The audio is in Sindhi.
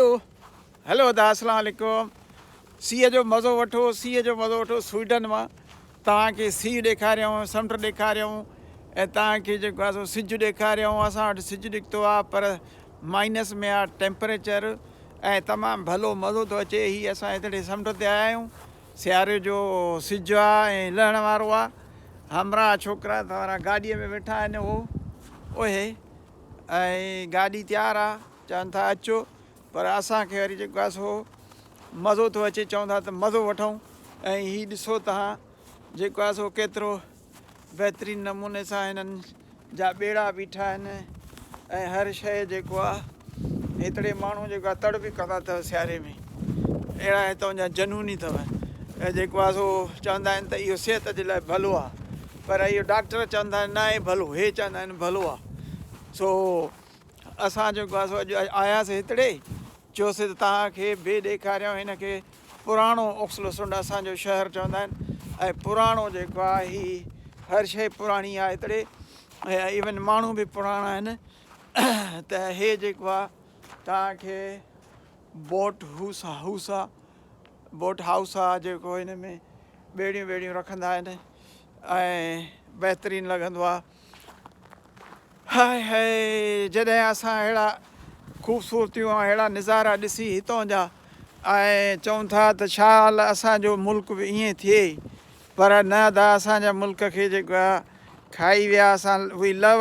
ڪيو. هيلو ادا اسلام عليڪم سيء جو مزو وٺو سيء جو مزو وٺو سوئيڊن مان توهان کي سيء ڏيکاريائون سمنڊ ڏيکاريائون ۽ توهان کي جيڪو آهي سو سج ڏيکاريائون اسان وٽ سج نڪتو آهي پر مائنس ۾ آهي ٽيمپريچر ۽ تمام ڀلو مزو ٿو اچي هي اسان هتڙي سمنڊ تي آيا آهيون سياري جو سج آهي ۽ لهڻ وارو آهي همراهه ڇوڪرا توهان گاڏي ۾ ويٺا آهن هو اوهي ۽ گاڏي تيار آهي چون ٿا اچو پر اسان کي وري جيڪو سو مزو ٿو اچي چون ٿا ته مزو وٺون ۽ هي ڏسو تهان جيڪو آهي سو ڪيترو بهترين نموني سان هنن جا ٻيڙا بيٺا آهن ۽ هر شيء جيڪو آهي هتڙي ماڻهو جيڪو آهي تڙ به ڪندا اٿو سياري ۾ اهڙا هتون جا جنوني اٿو جيڪو آهي سو چوندا آهن ته اهو صحت جي لاء ڀلو آهي پر اهو ڊاڪٽر چوندا آهن نه آهي ڀلو هي چوندا آهن ڀلو آهي سو اسان جيڪو آهي سو اڄ آياسي هتڙي، چيوسي ته توهان کي به ڏيکاريون هن کي پراڻو اوڪسلوسنڊ اسان جو شهر چوندا آهن ۽ پراڻو جيڪو آهي هي هر شيء پراڻي آهي هتڙي ۽ ايون ماڻهو به پراڻا آهن ته هي جيڪو آهي توهان کي بوٽ هوسا هوسا بوٽ هائوس آهي جيڪو هن ۾ ٻيڙيون ويڙيون رکندا آهن ۽ بهترين لڳندو آهي هاء هاء جڏهن اسان اهڙا خوبصورتيون ۽ اهڙا نظارا ڏسي هتان جا ۽ چون ٿا ته شال اسان جو ملڪ به ائين ٿئي پر نه ادا اسان جا ملڪ کي جيڪو آ کائي ويا اسان وي لو